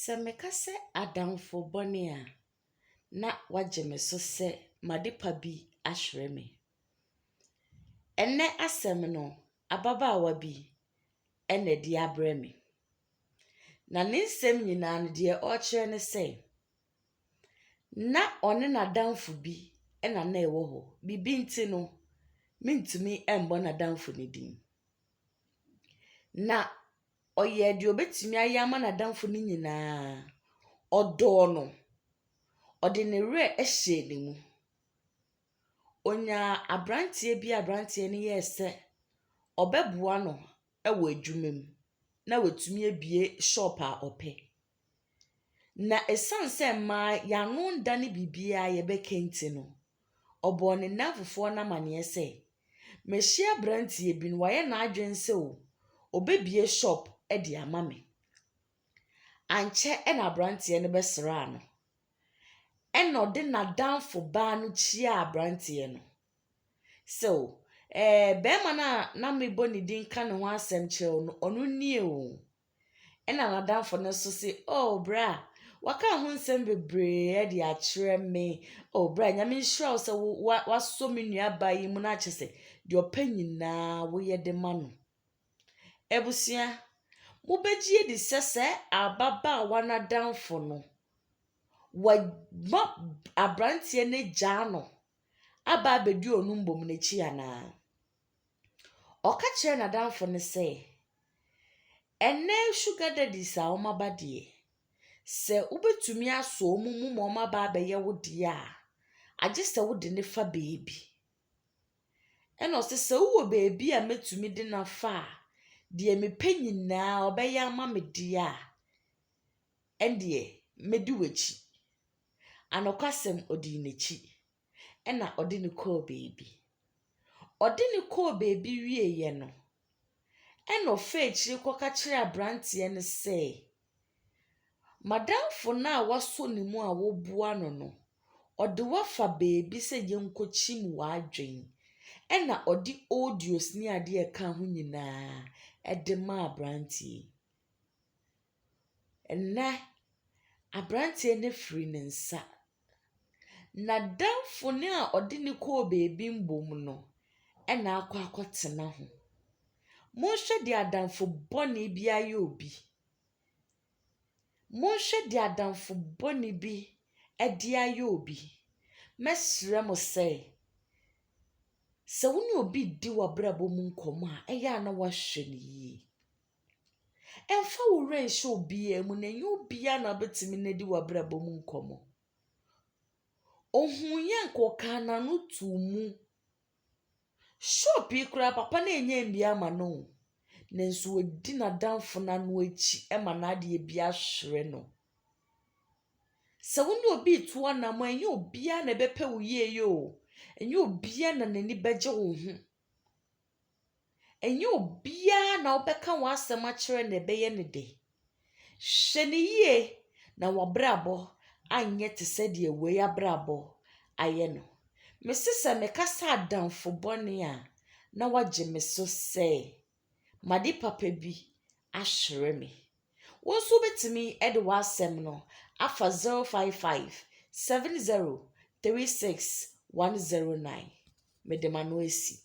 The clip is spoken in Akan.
Sɛ meka sɛ adamfo bɔne a, na wɔagye me so sɛ m'adepa bi ahwere me. Ɛnnɛ asɛm no, ababaawa bi na ɛde abrɛ me. Na ne nsɛm nyinaa no, deɛ ɔrekyerɛ ne sɛ, na ɔne n'adamfo bi na na ɛwɔ hɔ. Biribi nti no, mentumi mmɔ n'adamfo no din. Na Ɔyɛɛ deɛ ɔbɛtumi ayɛ ama n'adamfo no nyinaa. Ɔdɔɔ no. Ɔde ne werɛ hyɛɛ ne mu. Ɔnyaa aberanteɛ bi a aberanteɛ no yɛɛ sɛ ɔbɛboa no wɔ adwuma mu na watumi abue shop a ɔpɛ. Na ɛsiane sɛ mmaa yɛn ano nda ne biribiara a yɛbɛka nti no, ɔbɔɔ ne nnamfofoɔ no amaneɛ sɛ, Mahyia aberanteɛ bi na wayɛ n'adwene sɛ ɔbɛbue shop de ama me. Ankyɛ na aberanteɛ no bɛsraa no. Ɛnna ɔde n'adamfo baa no kyiaa aberanteɛ no sɛ, O ɛɛ barima no a na mebɔ ne din ka ne ho asɛm kyerɛ wo no, ɔno nie o. Ɛnna n'adamfo no nso se, Oh, bra! Waka ho nsɛm bebree de akyerɛ me. Oh, bra, Nyame nhyira wo sɛ woasɔ me nuabaa yi mu na akyɛ sɛ deɛ ɔpɛ nyinaa woyɛ de ma no. Abusua, mobɛgye adi sɛ sɛ ababaawa no adamfo no, wama aberanteɛ no agyaa no aba abɛdi ɔno mmom n'akyi anaa? Ɔka kyerɛɛ n'adamfo no sɛ, Ɛnnɛ sugar daddies a wɔaba deɛ, sɛ wobɛtumi asɔ wɔn mu ma wɔaba abɛyɛ wo deɛ a, agye sɛ wode no fa baabi. Ɛnna ɔse, Sɛ wowɔ baabi a mɛtumi de no afa a, deɛ mepɛ nyinaa ɔbɛyɛ ama me deɛ a, ɛnneɛ mɛdi w'akyi. Anokwasɛm, ɔdii n'akyi. ɛna ɔde no kɔɔ baabi. Ɔde no kɔɔ baabi wieeɛ no, ɛna ɔfaa akyire kɔka kyerɛɛ aberanteɛ no sɛ, M'adamfo no a woasɔ ne mu a woboa no no, ɔde wo afa baabi sɛ yɛnkɔkyim w'adwene. Ɛna ɔde odious ne adeɛ a ɛka ho nyinaa de maa aberanteɛ yi. Ɛnnɛ, aberanteɛ no afiri ne nsa. N'adamfo no a ɔde no kɔɔ baabi mmom no na akɔ akɔtena ho. Monhwɛ deɛ adamfo bɔne bi ayɛ obi. Monhwɛ deɛ adamfo bɔne bi de ayɛ obi. Mɛsrɛ mo sɛ, sɛ wo ne obi redi w'abrabɔ mu nkɔmmɔ a, ɛyɛ a na woahwɛ no yie. Mfa wo werɛ nhyɛ obiara mu, na ɛnyɛ obiara na wobɛtumi ne adi w'abrabɔ mu nkɔmmɔ. Ɔhuiɛ nka ɔkaa n'ano too mu. Shop yi koraa papa no ɛnyɛ mmiɛ ama no o, nanso wadi n'adamfo no ano akyi ma n'adeɛ bi ahwere no. Sɛ wo ne obi retu anammɔn a, ɛnyɛ obiara na ɛbɛpɛ wo yie yɛ o, ɛnyɛ obiara na n'ani bɛgye wo ho. Ɛnyɛ obiara na wobɛka w'asɛm akyerɛ na ɛbɛyɛ no dɛ. Hwɛ no yie na w'abrabɔ anyɛ te sɛ deɛ wei abrabɔ ayɛ no. Mese sɛ meka sɛ adamfo bɔne a, na wagye me so sɛ m'ade papa bi ahwere me. Wo nso wobɛtumi de w'asɛm no afa 055 70 36 109. Mede m'ano asi.